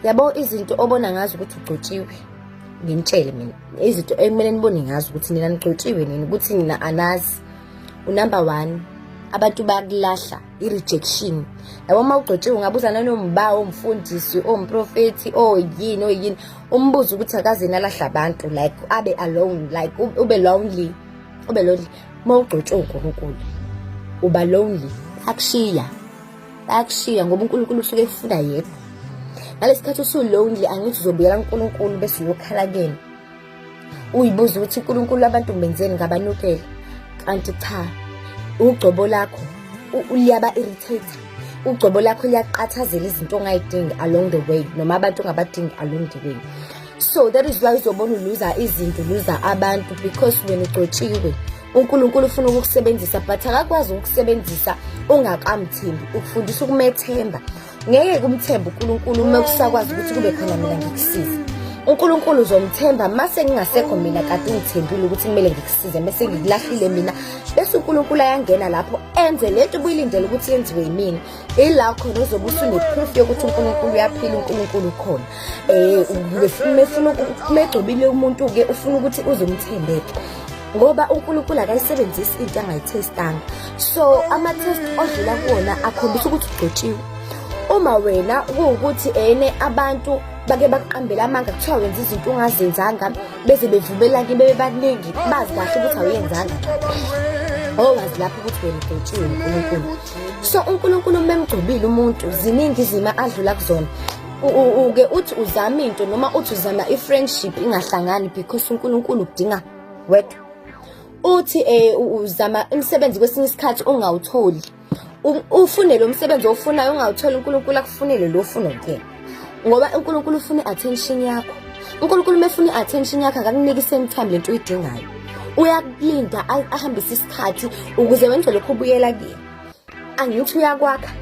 yabo izinto obona ngazo ukuthi ugcotshiwe nginitshele mina izinto ekumele nibone ngazo ukuthi nina nigcotshiwe nini ukuthi nina anazi unumber one abantu bakulahla i-rejection yabo uma ugcotshiwe ungabuza nanombawo omfundisi omprofethi oyini oyini umbuzo ukuthi akaze nalahla abantu like abe alone like ube lonely ube lonely uma ugcotshiwe unkulunkulu uba lonely akushiya bayakushiya ngoba uNkulunkulu usuke ekufuna yena ngalesi khathi usulonely angithi uzobuyela uNkulunkulu bese uyokhala kuyena uyibuza ukuthi uNkulunkulu abantu ngibenzeni ngabanukele kanti cha ugcobo lakho liyaba irritator ugcobo lakho liyaqathazela izinto ongayidingi along the way noma abantu ongabadingi along the way so that is why uzobona uluza izinto uluza abantu because wena ugcotshiwe uNkulunkulu ufuna ukukusebenzisa but akakwazi ukukusebenzisa ungakamthembi ukufundisa ukumethemba ngeke kumthemba uNkulunkulu uma kusakwazi ukuthi kube khona mina ngikusiza uNkulunkulu uzomthemba mase ngingasekho mina kade ungithembile ukuthi kumele ngikusize mase ngikulahlile mina bese uNkulunkulu ayangena lapho enze lento ubuyilindele ukuthi yenziwe yimina ila khona uzobe usuneproof yokuthi uNkulunkulu uyaphila uNkulunkulu ukhona eh ubefuna ufuna kumegcobile umuntu ke ufuna ukuthi uzomthembeke ngoba uNkulunkulu akayisebenzisi into angayithestanga so ama-test odlula kuwona akhombisa ukuthi ugcotshiwe uma wena kuwukuthi ene abantu bake bakuqambele amanga kuthiwa wenza izinto ungazenzanga beze bevumelane bebe baningi bazi kahle ukuthi awuyenzanga owazi lapho ukuthi wena udotshiwe unkulunkulu so unkulunkulu uma emgcobile umuntu ziningi izimo adlula kuzona uke uthi uzama into noma uthi uzama i-friendship ingahlangani because unkulunkulu udinga wedwa uthi eh uzama umsebenzi kwesinye isikhathi ungawutholi ufune lo msebenzi ofunayo ungawutholi uNkulunkulu akufunele lo ufuna kuyena ngoba uNkulunkulu ufuna attention yakho uNkulunkulu mefuna attention yakho akakuniki same time lento uyidingayo uyakulinda ahambise isikhathi ukuze wenze lokho ubuyela kuyena angithi uyakwakha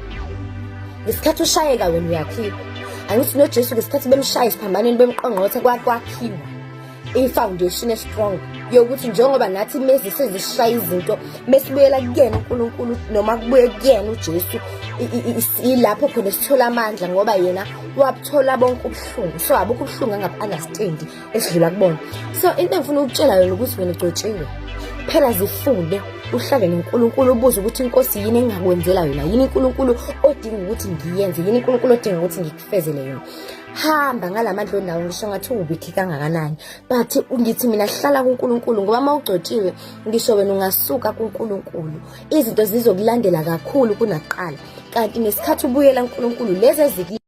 ngesikhathi ushayeka wena uyakhipha angithi nojesu ngesikhathi bemshaya esiphambanweni bemqongqothe kwakwakhiwa i-foundation estrong yokuthi njengoba nathi mezi sezishaya izinto mesibuyela kuyena unkulunkulu noma kubuye kuyena ujesu ilapho khona sithola amandla ngoba yena wabuthola bonke ubuhlungu so abukho ubuhlungu angabu-understandi esidlula kubona so into engifuna ukutshela yona ukuthi wena ugcotshiwe phela zifunde uhlale noNkulunkulu ubuze ukuthi inkosi yini engingakwenzela yona yini uNkulunkulu odinga ukuthi ngiyenze yini uNkulunkulu odinga ukuthi ngikufezele yona hamba ngalamandla onawo ngisho ngathi uwubithi kangakanani but ngithi mina hlala kuNkulunkulu ngoba uma ugcotshiwe ngisho wena ungasuka kuNkulunkulu izinto zizokulandela kakhulu kunakuqala kanti nesikhathi ubuyela kuNkulunkulu lezi eziki